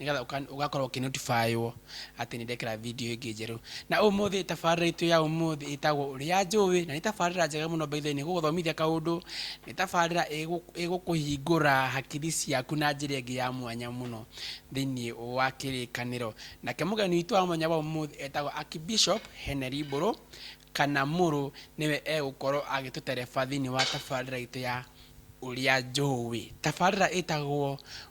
nĩgetha ũka- ũgakorwo ũkĩnotifaywo atĩ nĩ ndekĩra video ĩngĩ njerũ na ũmũthĩ tabarĩra itũ ya ũmũthĩ ĩtagwo ũrĩa njũĩ na nĩ tabarĩra njega mũno baithe nĩ gũgũthomithia kaũndũ nĩ tabarĩra ĩgũ- ĩgũkũhingũra hakiri ciaku na njĩra ĩngĩ ya mwanya mũno thĩinĩ wa kĩrĩkanĩro nake mũgeni witũ wa mwanya wa ũmũthĩ etagwo Archbishop Henry Mbũrũ kana Mũrũ nĩwe egũkorwo agĩtũtereba thĩinĩ wa tabarĩra itũ ya ũrĩa njũĩ tabarĩra ĩtagwo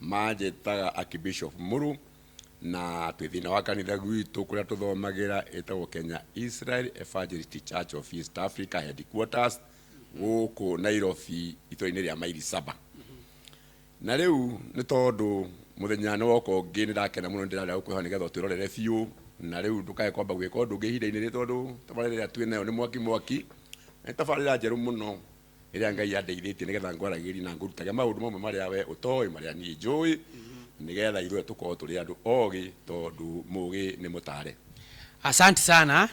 manjĩtaga Archbishop Muru na twĩ thĩna wa kanitha gwitũ kũrĩa tũthomagĩra ĩtagwo Kenya Israel Evangelist Church of East Africa headquarters gũkũ Nairobi itũra-inĩ rĩa mairi saba na rĩu nĩ tondũ mũthenya nĩ woka ũngĩ nĩ ndakena mũno nĩ ndĩrarĩa gũkwĩhoa nĩ getha ũtwĩrorere biũ na rĩu ndũkae kwamba gwĩka ũndũ ũngĩ ihinda-inĩ rĩrĩ tondũ tabarĩra ĩrĩa twĩ nayo nĩ mwaki mwaki na nĩ tabarĩra njerũ mũno ĩrĩa ngai andeithĩtie nĩgetha ngwaragĩrie na ngũrutage maũndũ mamwe marĩa we ũtoĩ marĩa niĩ njũĩ nĩgetha ithuothe tũkorwo tũrĩ andũ ogĩ tondũ mũgĩ nĩ mũtare asanti sana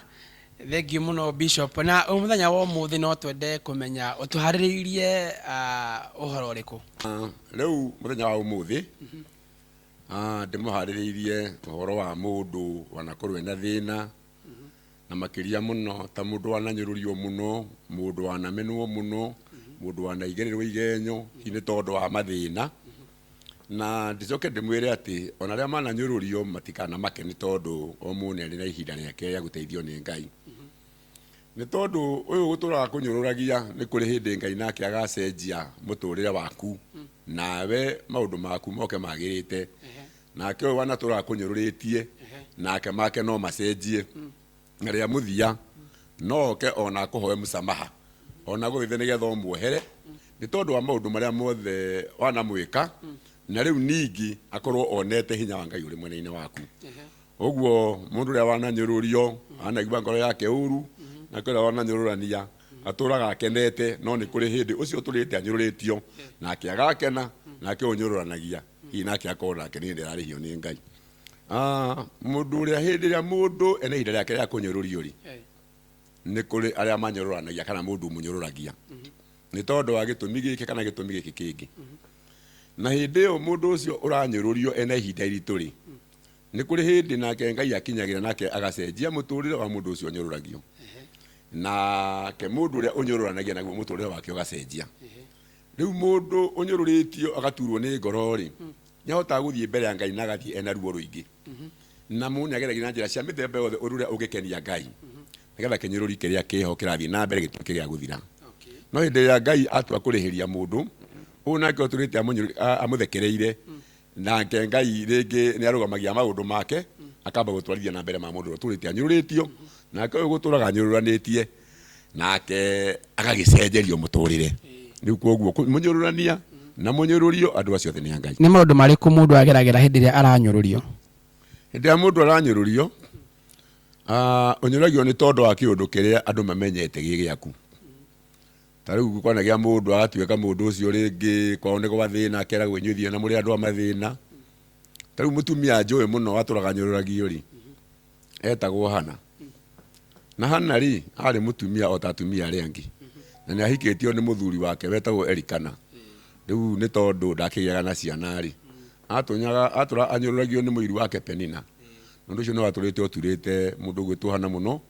thengiũ mũno bishop na ũyũ mũthenya wa ũmũthĩ no twende kũmenya ũtũharĩrĩirie ah, ũhoro ũrĩkũ Ah, rĩu mũthenya wa ũmũthĩ ah, ndĩmũharĩrĩirie ũhoro wa mũndũ wanakorwo ena thĩna na makĩria mũno ta mũndũ wananyũrũrio mũno mũndũ wanamenwo mũno mũndũ wanaigererwo igenyo hihi nĩ tondũ wa mathĩna na ndicoke ndĩmwĩre atĩ ona arĩa mananyũrũrio matikanamake nĩ tondũ o mũndũ nĩ arĩ na ihinda rĩake rĩa gũteithio nĩ ngai nĩ tondũ ũyũ gũtũraga kũnyũrũragia nĩ kũrĩ hĩndĩ ngai nake agacenjia mũtũrĩre waku nawe maũndũ maku moke magĩrĩte Nake ũyũ wanatũra akũnyũrũrĩtie, nake make no macenjie, na rĩa mũthia no oke o na akũhoe mũsamaha, o na agũthaithe nĩ getha ũmuohere, nĩ tondũ wa maũndũ marĩa mothe wanamwĩka, na rĩu ningĩ akorwo onete hinya wa Ngai ũrĩ mwena-inĩ waku. Ũguo mũndũ ũrĩa wananyũrũrio, anaigua ngoro yake ũru, nake ũrĩa wananyũrũrania Atũũraga akenete, no nĩ kũrĩ hĩndĩ ũcio ũtũrĩte anyũrũrĩtio, nake agakena, nake ũnyũrũranagia, hihi nake akorwo nake nĩ hĩndĩ ararĩhio nĩ Ngai. Ah, mũndũ ũrĩa hĩndĩ ĩrĩa mũndũ ena ihinda rĩake rĩa kũnyũrũrio-rĩ, nĩ kũrĩ arĩa manyũrũranagia kana mũndũ ũmũnyũrũragia nĩ tondũ wa gĩtũmi gĩkĩ kana gĩtũmi gĩkĩ kĩngĩ. Na hĩndĩ ĩyo mũndũ ũcio ũranyũrũrio ena ihinda iritũ-rĩ, Nĩ kũrĩ hĩndĩ nake Ngai akinyagĩra nake agacenjia mũtũrĩre wa mũndũ ũcio ũnyũrũragio. Nake mũndũ ũrĩa ũnyũrũranagia naguo mũtũrĩre wake ũgacenjia. Rĩu mũndũ ũnyũrũrĩtio agaturwo nĩ ngoro-rĩ, nĩ ahotaga gũthiĩ mbere ya Ngai na agathiĩ ena ruo rũingĩ. Na mũndũ nĩ ageragia na njĩra cia mĩthemba yothe ũndũ ũrĩa ũngĩkenia Ngai nĩgetha kĩnyũrũri kĩrĩa kĩho kĩrathiĩ na mbere gĩtuĩke gĩa gũthira. No hĩndĩ ĩrĩa Ngai atua kũrĩhĩria mũndũ, ũyũ nake ũtũrĩte amũthekereire Nake Ngai rĩngĩ nĩarũgamagia maũndũ make, akamba gũtwarithia na mbere ma mũndũ ũrĩa ũtũrĩte anyũrũrĩtio, nake ũyũ gũtũraga anyũrũranĩtie, nake agagĩcenjerio mũtũrĩre. Rĩu koguo mũnyũrũrania na mũnyũrũrio andũ acio othe nĩ a Ngai. Nĩ maũndũ marĩkũ mũndũ ageragĩra hĩndĩ ĩrĩa aranyũrũrio? Hĩndĩ ĩrĩa mũndũ aranyũrũrio, ũnyũrũragio nĩ tondũ wa kĩũndũ kĩrĩa andũ mamenyete gĩ gĩaku. Ta rĩu kwanagĩa mũndũ agatuĩka mũndũ ũcio rĩngĩ kwao nĩ gwathĩna akeragwo inyuĩ thiĩ na mũrĩ andũ a mathĩna ta rĩu mũtumia njũĩ mũno atũraga nyũrũragio rĩ etagwo hana na hana rĩ arĩ mũtumia o ta atumia arĩa angĩ na nĩ ahikĩtio nĩ mũthuri wake wetagwo erikana rĩu nĩ tondũ ndakĩgĩaga na ciana rĩ atũnyaga atũra anyũrũragio nĩ mũiru wake penina na ũndũ ũcio nĩ watũrĩte ũturĩte mũndũ ũgwĩtwo hana mũno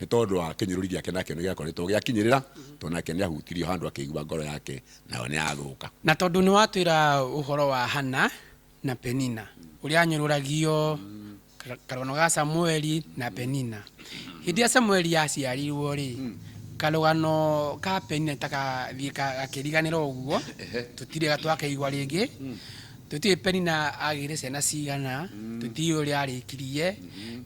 nĩ tondũ wa kĩnyũrũri gĩake nakĩo nĩ gĩakoretwo gĩakinyĩrĩra tondũ nake nĩ ahutirio handũ akĩigua ngoro yake nayo nĩ yathũka Na tondũ nĩwatwĩra ũhoro wa Hana na Penina, ũrĩa anyũrũragio ka- karũgano ga Samueli na Penina. Hĩndĩ ĩrĩa Samueli aciarirwo-rĩ, karũgano ka Penina nĩtakathiĩ ka- gakĩriganĩra ũguo, tũtirĩ twakaigua rĩngĩ. Tũtiũĩ Penina aagĩire ciana cigana, tũtiũĩ ũrĩa aarĩkirie,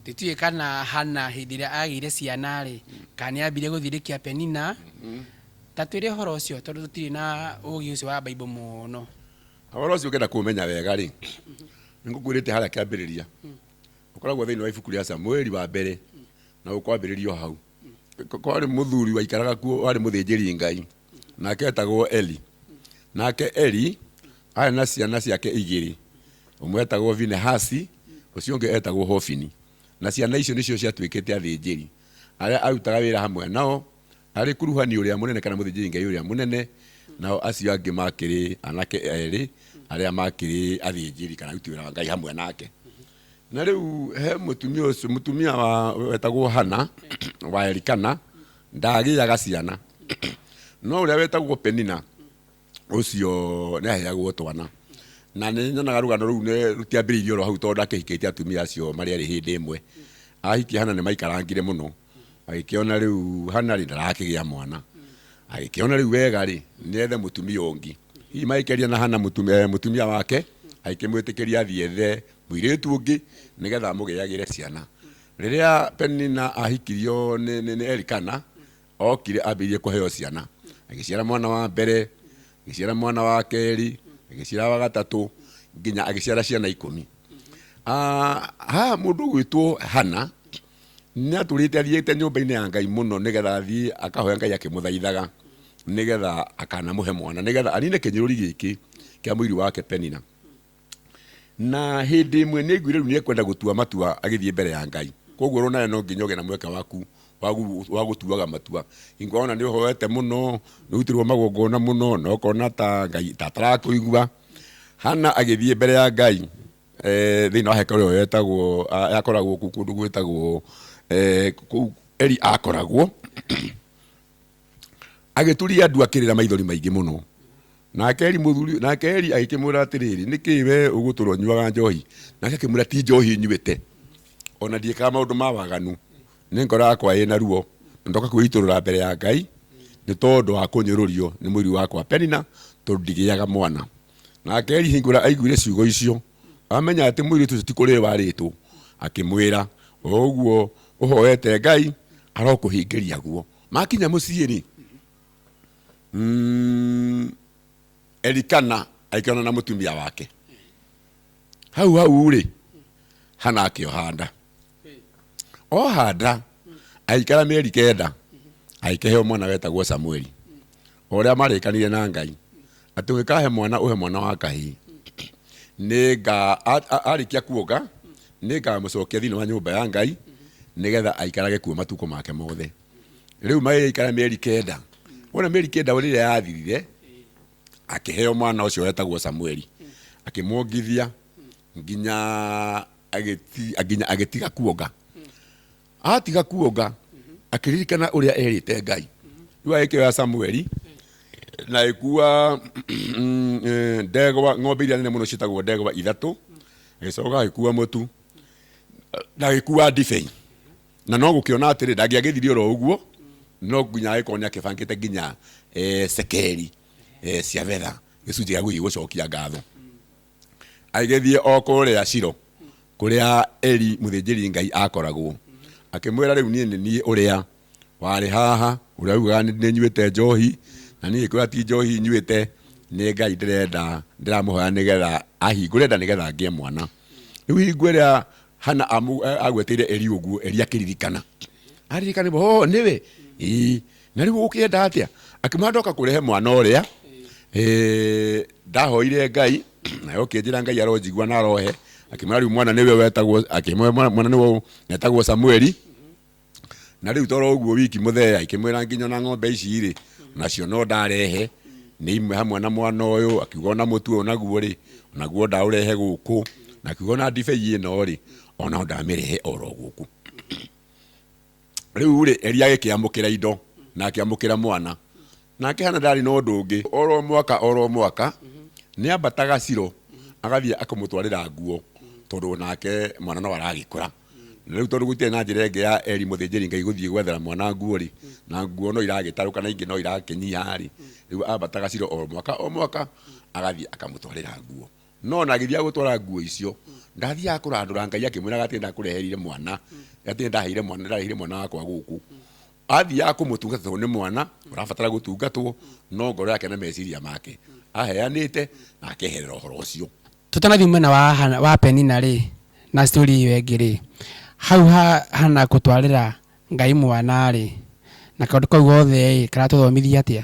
tũtiũĩ kana Hana hĩndĩ ĩrĩa aagĩire ciana-rĩ, kana nĩ aambire gũthirĩkia Penina. Ta twĩre ũhoro ũcio tondũ tũtirĩ na ũũgĩ ũcio wa Bible mũno. Ũhoro ũcio ũngĩenda kũũmenya wega-rĩ, nĩ ngũkwĩrĩte harĩa kĩambĩrĩria. Ũkoragwo thĩinĩ wa ibuku rĩa Samueli wa mbere na ũkwambĩrĩria o hau. Kwarĩ mũthuri waikaraga kuo warĩ mũthĩnjĩri Ngai. nake etagwo Eli. Nake Eli arĩ na ciana ciake igĩrĩ, ũmwe etagwo Vinehasi, ũcio ũngĩ etagwo Hofini. Na ciana icio nĩcio ciatuĩkĩte athĩnjĩri arĩa arutaga wĩra hamwe nao, arĩ kuruhani ũrĩa mũnene kana mũthĩnjĩri Ngai ũrĩa mũnene, nao acio angĩ makĩrĩ anake erĩ arĩa makĩrĩ athĩnjĩri kana aruti wĩra wa Ngai hamwe nake. Na rĩu he mũtumia ũcio, mũtumia wa wetagwo Hana wa Elikana, Ndaagĩaga ciana, no ũrĩa wetagwo Penina, ũcio nĩ aheagwo twana. Na nĩ nyonaga rũgano rũu nĩ rũtiambĩrĩirie oro hau tondũ ndakĩhikĩtie atumia acio marĩ erĩ hĩndĩ ĩmwe. Ahikia Hana nĩ maikarangire mũno, agĩkĩona rĩu Hana rĩ, ndarakĩgĩa mwana. Agĩkĩona rĩu wega rĩ, nĩ ethe mũtumia ũngĩ. Hihi magĩkĩaria na Hana mũtumia, mũtumia wake, agĩkĩmwĩtĩkĩria athiĩ ethe mũirĩtu ũngĩ nĩgetha amũgĩagĩre ciana. Rĩrĩa Penina aahikirio nĩ, nĩ, nĩ Elikana, okire ambĩrĩirie kũheo ciana. Agĩciara mwana wa mbere, agĩciara mwana wa kerĩ, agĩciara wa gatatũ, nginya agĩciara ciana ikũmi. Ah, haha mũndũ ũgwĩtwo Hana nĩ atũrĩte athiĩte nyũmba-inĩ ya Ngai mũno nĩgetha athiĩ akahoya Ngai akĩmũthaithaga nĩgetha akanamũhe mwana nĩgetha anine kĩnyũrũri gĩkĩ kĩa mũiri wake Penina. na hĩndĩ ĩmwe nĩ aiguire rĩu nĩ ekwenda gũtua matua agĩthiĩ mbere ya ngai koguo ũrona nawe no nginya ũgĩe na mweke waku wa gu- wa gũtuaga matua hingo ona nĩ ũhoete mũno nĩ ũrutĩrwo magongona mũno na ũkona ta ngai ta atarakũigua hana agĩthiĩ mbere ya ngai eh, thĩinĩ wa hekaru ĩyo yetagwo a- yakoragwo kũu kũndũ gwĩtagwo eh, kũu eli akoragwo agĩturia ndu akĩrĩra maithori maingĩ mũno nake eri mũthuri nake eri agĩkĩmwĩra atĩrĩrĩ nĩkĩ we ũgũtũra ũnyuaga njohi nake akĩmwĩra ti njohi nyuĩte ona ndiĩkaga maũndũ ma waganu nĩ ngoro yakwa ĩna ruo na ndoka kwĩitũrũra mbere ya ngai nĩ tondũ wa kũnyũrũrio nĩ mũiri wakwa penina tondũ ndigĩaga mwana nake eri hingũra aiguire ciugo icio amenya atĩ mũirĩtu ũcio ti kũrĩ warĩtwo akĩmwĩra o ũguo ũhoete ngai arokũhingĩria guo makinya mũciĩ rĩ mm, elikana aikana na mũtumia wake hau hau rĩ hana akĩohanda ohanda aikara mĩeri kenda agĩkĩheo mwana wetagwo samueli o ũrĩa marĩkanire na ngai atĩ ũngĩkahe mwana ũhe mwana wa kahĩĩ nĩnga a- a- arĩkia kuonga nĩngamũcokia thĩinĩ wa nyũmba ya ngai nĩgetha aikarage kuo matukũ make mothe rĩu magĩgĩikara mĩeri kenda wona mĩeri kenda rĩrĩa yathirire akĩheo mwana ũcio wetagwo samueli akĩmwongithia nginya agĩti- nginya agĩtiga kuonga Atiga kuonga, akĩririkana ũrĩa erĩte Ngai. Rĩu agĩkĩoya Samueli na agĩkua mm, eh, ndegwa ng'ombe iria nene mũno ciĩtagwo ndegwa ithatũ agĩcoka agĩkua mũtu na agĩkua ndibei na no gũkĩona atĩrĩ ndangĩagĩthire oro ũguo no nginya agĩkorwo nĩ akĩbangĩte nginya eh, cekeri eh, cia betha gĩcunjĩ gĩa gũthiĩ gũcokia ngatho agĩthiĩ o kũrĩa Shilo kũrĩa Eli mũthĩnjĩri Ngai akoragwo, akĩmwĩra rĩu niĩ nĩ niĩ ũrĩa warĩ haha, ũrĩa ugaga nĩ nĩ nyuĩte njohi, na niĩ ngĩkwĩra ti njohi nyuĩte, nĩ Ngai ndĩrenda ndĩramũhoya nĩgetha ahingũre nda nĩgetha ngĩe mwana. Rĩu hingo ĩrĩa Hana amu- agweteire Eli ũguo, Eli akĩririkana aririkana oh nĩwe ĩĩ na rĩu ũkĩenda atĩa akĩmwĩra ndoka kũrehe mwana ũrĩa eh, ndahoire ngai nayo ũkĩnjĩra ngai aronjigua na arohe akĩmwĩra rĩu mwana nĩwe wetagwo akĩmwĩra mwana mwana nĩwe wetagwo samueli na rĩu toro ũguo wiki mũthee akĩmwĩra nginya na ng'ombe ici rĩ nacio no ndarehe nĩ imwe hamwe na mwana ũyũ akiuga ona mũtu ũyũ naguo rĩ naguo ndaũrehe gũkũ na akiuga ona ndibei ĩno rĩ ona ndamĩrehe oro gũkũ Rĩu rĩ, Eli agĩkĩamũkĩra indo na akĩamũkĩra mwana. Nake Hana ndaarĩ na ũndũ ũngĩ. O ro mwaka o ro mwaka nĩ ambataga Shilo agathiĩ akamũtwarĩra nguo, tondũ o nake mwana no aragĩkũra. Na rĩu tondũ gũtiarĩ na njĩra ĩngĩ ya Eli mũthĩnjĩri-Ngai gũthiĩ gwethera mwana nguo-rĩ, na nguo no iragĩtarũka na ingĩ no irakĩnyiha-rĩ, rĩu ambataga Shilo o mwaka o mwaka agathiĩ akamũtwarĩra nguo. No na agĩthiaga gũtwara nguo icio, ndathiaga kũrandũra Ngai akĩmwĩraga atĩ ndakũreheire mwana, atĩ ndaheire mwana, ndareheire mwana wakwa gũkũ. Athiaga kũmũtungata tondũ nĩ mwana, ũrabatara gũtungatwo, no ngoro yake na meciria make aheanĩte na akeherera ũhoro ũcio. Tũtanathiĩ mwena wa Hana, wa Penina rĩ, na story ĩyo ĩngĩ rĩ, hau ha Hana gũtwarĩra Ngai mwana rĩ, na kaũndũ kau gothe ĩ, karatũthomithia atĩa?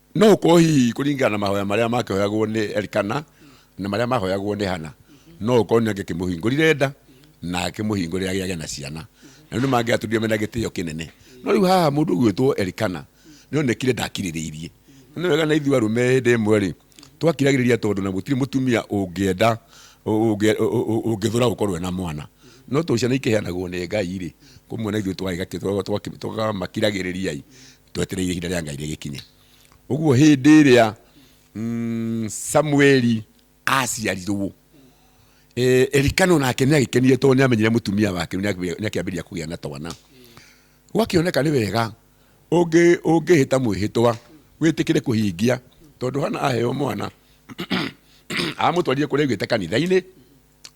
no gũkorwo hihi kũringana na mahoya marĩa makĩhoyagwo nĩ Elikana na marĩa mahoyagwo nĩ Hana no gũkorwo nĩ angĩkĩmũhingũrire nda na akĩmũhingũrĩre agĩage na ciana na nĩ mangĩatũrire mena gĩtĩo kĩnene no rĩu haha mũndũ ũgwĩtwo Elikana nĩ onekire ndakirĩrĩirie Na nĩ wega na ithuĩ arũme hĩndĩ ĩmwe rĩ twakiragĩrĩria tondũ na gũtirĩ mũtumia ũngĩenda ũngĩ- ũ- ũ- ũngĩthũra gũkorwo ena mwana no tondũ ciana ikĩheanagwo nĩ ngai rĩ kũmwe na ithuĩ twagamakiragĩrĩriai twetereire ihinda rĩa ngai rĩgĩkinye ũguo hĩndĩ ĩrĩa mm, samueli aciarirwo eh, elikano nake nä agäkenire tondå nä amenyire må tumia wake nä akäambä ria kå gä a na twana gwakioneka nä wega ũngĩ ũngĩhä ta mwĩhĩtwa wĩtĩkĩre kũhingia tondũ hana aheo mwana amũtwarire kũrĩa aigĩte kanitha-inĩ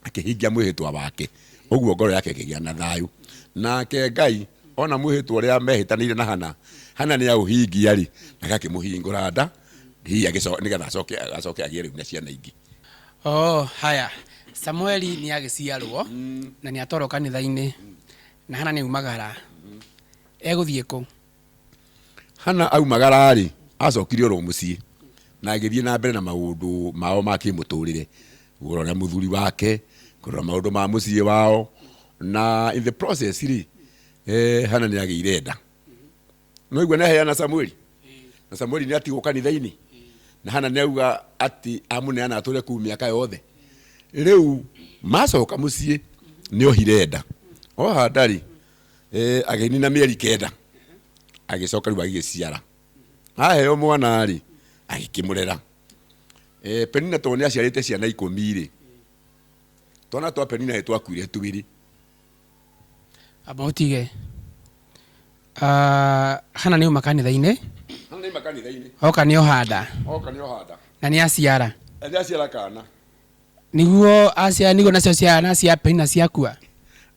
akĩhingia mwĩhĩtwa wake ũguo ngoro yake ĩkĩgĩa na thayũ nake ngai ona mwĩhĩtwa ũrĩa mehĩtanĩire na hana hana nĩ aũhingia rĩ nake akĩmũhingũra nda hihi agĩco- nĩgetha acoke acoke agĩe rĩu na ciana ingĩ oh haya samueli nĩ agĩciarwo na nĩ atwarwo kanitha-inĩ na hana nĩ aumagara egũthiĩ kũ Hana aumagara-rĩ, acokire oro mũciĩ na agĩthiĩ na mbere na maũndũ mao ma kĩmũtũrĩre, kũrora mũthuri wake, kũrora maũndũ ma mũciĩ wao, na in the process rĩ, eh, Hana nĩ agĩire nda. Nĩwaigua nĩaheana Samueli, na Samueli nĩatigwo kanitha-inĩ, na Hana nĩauga atĩ amũneana atũre kũu mĩaka yothe. Rĩu macoka mũciĩ nĩohire nda, oha nda-rĩ, Eh, agĩnina mĩeri kenda agĩcoka rĩu agĩgĩciara aheo mwana rĩ agĩkĩmũrera Eh, penina tondũ nĩ aciarĩte ciana ikũmi rĩ twana twa penina nĩ twakuire twĩrĩ amba ũtige Ah, hana nĩ uma kanitha-inĩ hana nĩ makanitha-inĩ oka nĩ ohanda oka nĩ ohanda na nĩ aciara nĩ aciara kana Nĩguo aciara nĩguo nacio ciana cia Penina ciakua.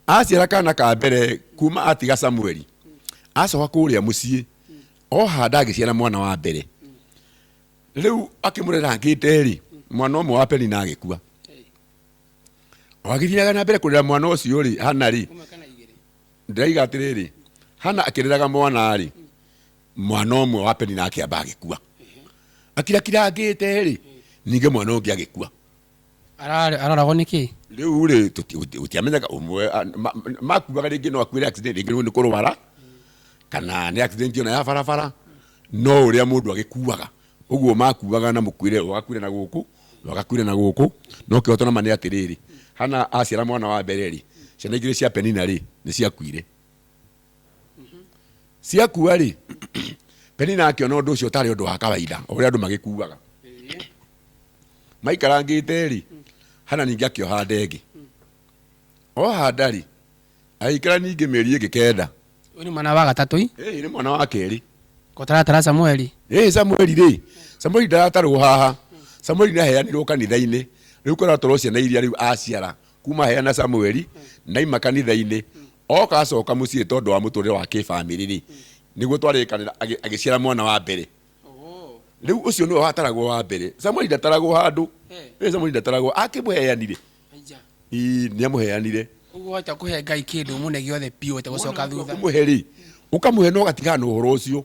Aciara kana ka mbere kuma atiga Samueli, acoka kũrĩa mũciĩ, oha nda agĩciara mwana wa mbere. Rĩu akĩmũrerangĩte-rĩ, mwana ũmwe wa Penina agĩkua. O agĩthiaga na mbere kũrera mwana ũcio-rĩ, Hana-rĩ, ndĩraiga atĩrĩrĩ, Hana akĩreraga mwana-rĩ, mwana ũmwe wa peni nake amba agĩkua akira kirangĩte rĩ ningĩ mwana ũngĩ agĩkua Ararĩ- araragwo nĩ kĩ rĩu rĩ gũtiamenyaga ũmwe a- ma- ma- makuaga rĩngĩ no akuĩre accident rĩngĩ nĩ kũrwara kana nĩ accident ona ya barabara no ũrĩa mũndũ agĩkuaga ũguo makuaga na mũkuĩre ũgakuĩre na gũkũ ũgakuĩre na gũkũ no kĩhoto nama nĩ atĩrĩrĩ hana aciara mwana wa mbere rĩ ciana igĩrĩ cia penina rĩ nĩ ciakuire mhm. ciakua rĩ penina akĩona ũndũ ũcio ũtarĩ ũndũ wa kawaida ũrĩa andũ magĩkuaga maikarangĩte rĩ mm. hana ningĩ akĩoha ndengĩ mm. oha nda rĩ agĩikara ningĩ mĩeri ĩngĩ kenda ũyũ nĩ mwana wa gatatũ nĩ mwana wa kerĩ kotaratara samueli ĩ samueli rĩ samueli ndaratarwo haha samueli nĩ aheanirwo kanitha-inĩ rĩu koratwarwo ciana iria rĩu aciara kuma hĩa na Samueli naima kanitha-inĩ oka acoka muciĩ tondu wa muturire wa kifamily ri niguo twarĩkanĩra agĩ- agĩciara mwana wa mbere Oh. rĩu ũcio nĩwe wataragwo wa mbere Samueli ndataragwo handũ Eh. Eh, Samueli ndataragwo akĩmũheanire Aija. Ii, nĩamũheanire Ũguo wahota kũhe Ngai kĩndũ mũne gĩothe biũ ũtegũcoka thutha. ũmũhe rĩ ũkamũhe na ũgatigana na ũhoro ũcio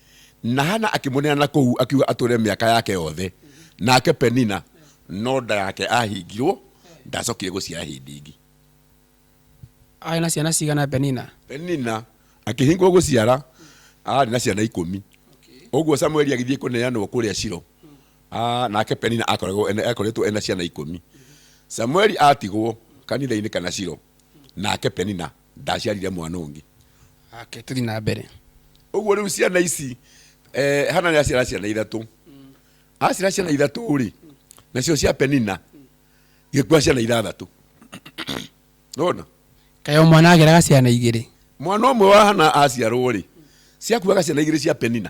na hana akĩmũneana kũu akiuga atũre mĩaka yake yothe nake penina no nda yake ahingirwo ndacokire gũciara hĩndĩ ĩngĩ arĩ na ciana cigana penina penina akĩhingwo gũciara arĩ na ciana ikũmi ũguo samueli agĩthiĩ kũneanwo kũrĩa ciro Ah, nake penina akoragwo ene- akoretwo ena ciana ikũmi samueli atigwo kanitha-inĩ kana ciro nake penina ndaciarire mwana ũngĩ ake tũthi na mbere ũguo rĩu ciana ici eh, hana nĩ aciara ciana ithatũ aciara ciana ithatũ rĩ nacio cia penina igĩkua ciana ithathatũ nona kaĩ o mwana ageraga ciana igĩrĩ mwana ũmwe wa hana aciarwo rĩ ciakuaga ciana igĩrĩ cia penina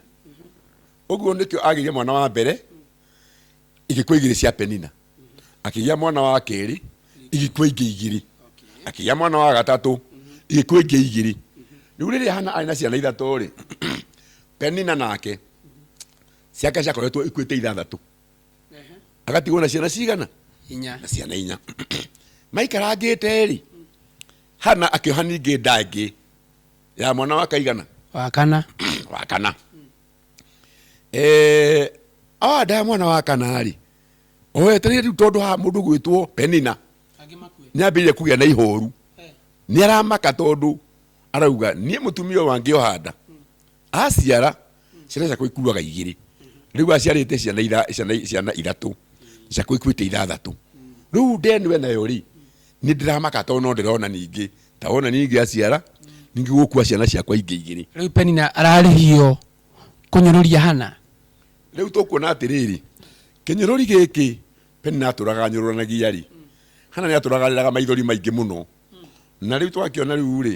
ũguo nĩkĩo agĩire mwana wa mbere igĩkwa igĩrĩ cia penina akĩgĩa mwana wa kerĩ igĩkwa ingĩ igĩrĩ akĩgĩa mwana wa gatatũ igĩkwa ingĩ igĩrĩ rĩu rĩrĩa hana arĩ na ciana ithatũ rĩ penina nake ciake ciakoretwo ikuĩte ithathatũ agatigwo na ciana cigana inya na ciana inya maikarangĩte rĩ hana akĩoha ningĩ nda ĩngĩ ya mwana wa kaigana wakana wa kana eh, awandaya mwana wa kanarĩ owetereire rĩu tondũ ha mũndũ gwĩtwo penina angĩ makue nĩ ambĩrĩire kũgĩa na ihoru Eh, nĩ aramaka tondũ arauga niĩ mũtumia ũyũ wangĩoha nda aciara ciana ciakwa ikuaga igĩrĩ rĩu aciarĩte ciana itha- ciana- ciana ithatũ ciakwa ikuĩte ithathatũ rĩu ndenu enayo rĩ Nĩ ndĩramaka tondũ no ndĩrona ningĩ ta wona nĩ ingĩaciara ningĩ gũkua ciana ciakwa ingĩ igĩrĩ. Rĩu Penina ararĩhio kũnyũrũria Hana? Rĩu tũkuona atĩrĩrĩ, kĩnyũrũri gĩkĩ Penina atũraga anyũrũranagia-rĩ, Hana nĩ atũraga arĩraga maithori maingĩ mũno. Na rĩu twakĩona rĩu-rĩ,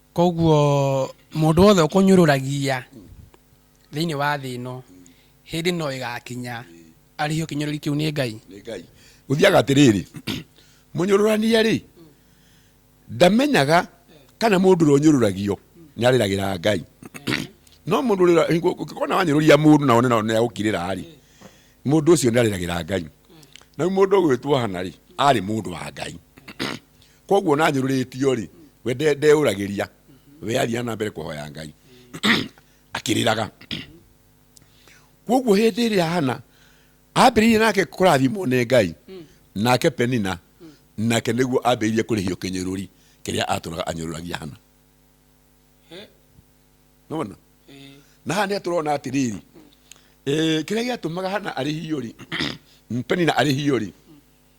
Koguo mũndũ wothe ũkũnyũrũragia thĩinĩ wa thĩ ĩno, hĩndĩ no ĩgakinya arĩhio kĩnyũrũri kĩu nĩ Ngai. Nĩ Ngai. Gũthiaga atĩrĩrĩ, mũnyũrũrania-rĩ, ndamenyaga kana mũndũ ũrĩa ũnyũrũragio nĩ arĩragĩra Ngai. No mũndũ ũrĩa ũngĩkona wanyũrũria mũndũ na wone na nĩ agũkirĩra-rĩ, mũndũ ũcio nĩ arĩragĩra Ngai. Na rĩu mũndũ ũgwĩtwo Hana-rĩ, arĩ mũndũ wa Ngai. koguo na nyũrũrĩtio rĩ we nde- ndeũragĩria we athiaga na mbere kũhoya ngai akĩrĩraga koguo hĩndĩ ĩrĩa hana ambĩrĩirie nake kũrathimwo nĩ ngai nake penina nake nĩguo ambĩrĩirie kũrĩhio kĩnyũrũri kĩrĩa atũraga anyũrũragia hana He, nona eh, na haha nä tårona atä rä rä kä rä a gä atå maga hana arä hiå rä penina arä hiå rä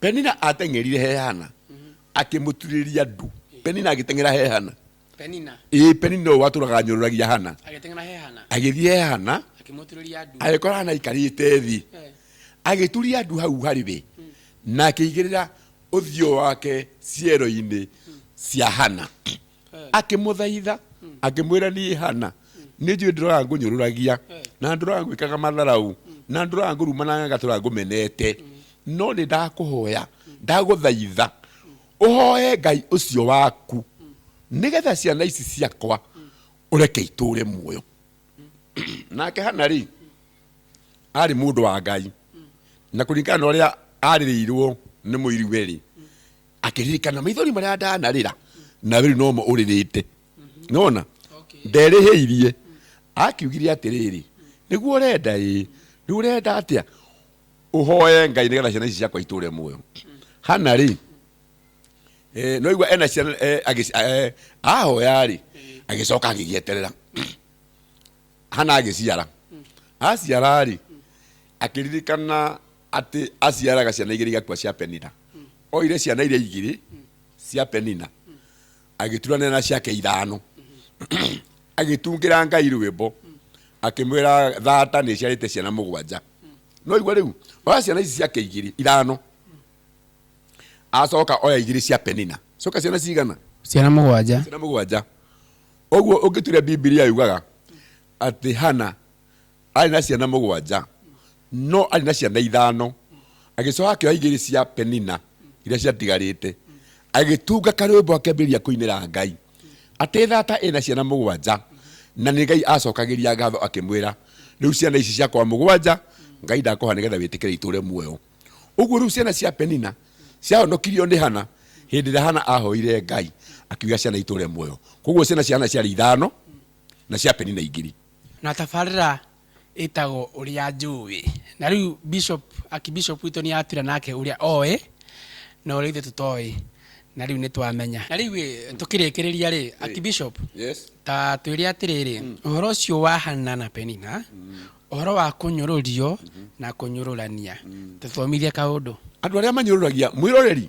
Penina ateng'erire he Hana akĩmũturĩria ndu. Penina agĩteng'era he Hana. Penina. Ĩĩ Penina ũyũ watũraga anyũrũragia Hana. Agĩteng'era he Hana. Agĩthiĩ he Hana. Akĩmũturĩria ndu. Agĩkora Hana aikarĩte thĩ. Eh. Agĩturia ndu hau harĩ we hmm. na akĩigĩrĩra ũthiũ wake ciero-inĩ hmm. cia Hana. akĩmũthaitha akĩmwĩra niĩ hana nĩ njũĩ ndũraga ngũnyũrũragia na ndũraga ngwĩkaga matharau na ndũraga ngũruma na nganga tũraga ngũmenete no nĩ ndakũhoya ndagũthaitha ũhoe ngai ũcio waku nĩgetha ciana ici ciakwa ũreke itũre muoyo nake hana rĩ arĩ mũndũ wa ngai na kũringana na ũrĩa arĩrĩirwo nĩ mũiriwe rĩ akĩririkana maithori marĩa ndanarĩra na rĩu nomo ũrĩrĩte nona nderĩhĩirie akiugire atĩrĩrĩ nĩguo ũrenda ĩ rĩu ũrenda atĩa ũhoe ngai nĩgetha ciana ici ciakwa itũre muoyo hana rĩ eh, no igua ena ciana eh, agĩci- eh, ahoya rĩ agĩcoka agĩgĩeterera hana agĩciara aciara rĩ akĩririkana atĩ aciaraga ciana igĩrĩ igakua cia penina oire ciana iria igĩrĩ cia penina agĩturanĩra na ciake ithano agĩtungĩra ngai rwĩmbo akĩmwĩra thata nĩ ciarĩte ciana mũgwanja no igua rĩu oya ciana ici ciake igĩrĩ ithano acoka oya igĩrĩ cia penina coka ciana cigana ciana mũgwanja ciana mũgwanja ũguo ũngĩturia bibilia yugaga atĩ hana Arĩ na ciana mũgwanja, no arĩ na ciana ithano. Agĩcoka akĩoya igĩrĩ cia Penina iria ciatigarĩte, agĩtunga karwĩmbo akĩambĩrĩria kũinĩra Ngai atĩ thata ĩna ciana mũgwanja na nĩ Ngai acokagĩria ngatho akĩmwĩra, rĩu ciana ici ciakwa mũgwanja Ngai ndakũha nĩgetha wĩtĩkĩre itũre muoyo. Ũguo rĩu ciana cia Penina ciahonokirio nĩ Hana hĩndĩ ĩrĩa Hana ahoire Ngai akiuga ciana itũre muoyo. Koguo ciana cia Hana ciarĩ ithano na cia Penina igĩrĩ. Na tabarĩra ĩtagwo ũrĩa njũĩ. Na rĩu bishop, archbishop witũ nĩ atwĩra nake ũrĩa oĩ, na ũrĩa ithuĩ tũtoĩ. Na rĩu nĩ twamenya. Na rĩu ĩ, tũkĩrĩkĩrĩria rĩ, archbishop, Yes. ta twĩre atĩrĩrĩ, ũhoro ũcio wa Hanna na Penina, ũhoro wa kũnyũrũrio na kũnyũrũrania, tũthomithie kaũndũ. Andũ arĩa manyũrũragia mwĩroreri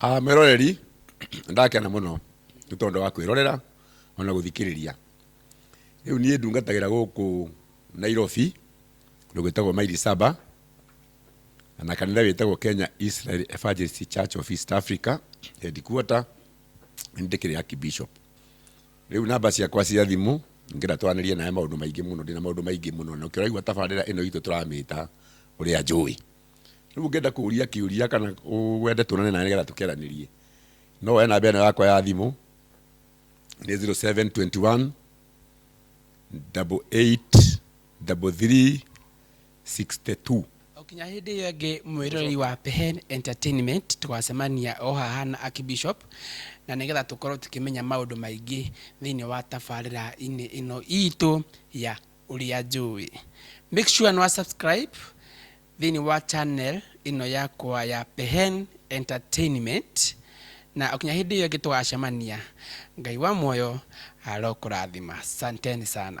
Ah, mwĩroreri ndakena mũno nĩ tondũ wa kwĩrorera ona gũthikĩrĩria rĩu niĩ ndungatagĩra gũkũ nairobi kũndũ gwĩtagwo maili saba na kanitha wĩtagwo kenya israel evangelist church of east africa headquarter nĩ ndĩkĩrĩ archbishop rĩu namba ciakwa cia thimũ ngĩra twaranĩrie nawe maũndũ maingĩ mũno ndĩna maũndũ maingĩ mũno na ũkĩraigua tabarĩra ĩno itũ tũramĩta ũrĩa njũĩ Rĩu ũngĩenda kũũria kĩũria kana wende tuonane nawe nĩgetha tũkĩaranĩrie, no woe namba ĩno yakwa ya thimũ nĩ 0721 883362. O kinya hĩndĩ ĩyo ĩngĩ mwĩroreri wa Pehen Entertainment tũgacemania o haha na Archbishop na nĩgetha tũkorwo tũkĩmenya maũndũ maingĩ thĩinĩ wa tabarĩra-inĩ ĩno itũ ya ũrĩa njũĩ. Make sure nĩ wa subscribe thĩinĩ wa channel ĩno yakwa ya Pehen Entertainment na ũkinya hĩndĩ ĩyo ĩngĩ tũgacemania Ngai wa muoyo arokũrathima. Santeni sana.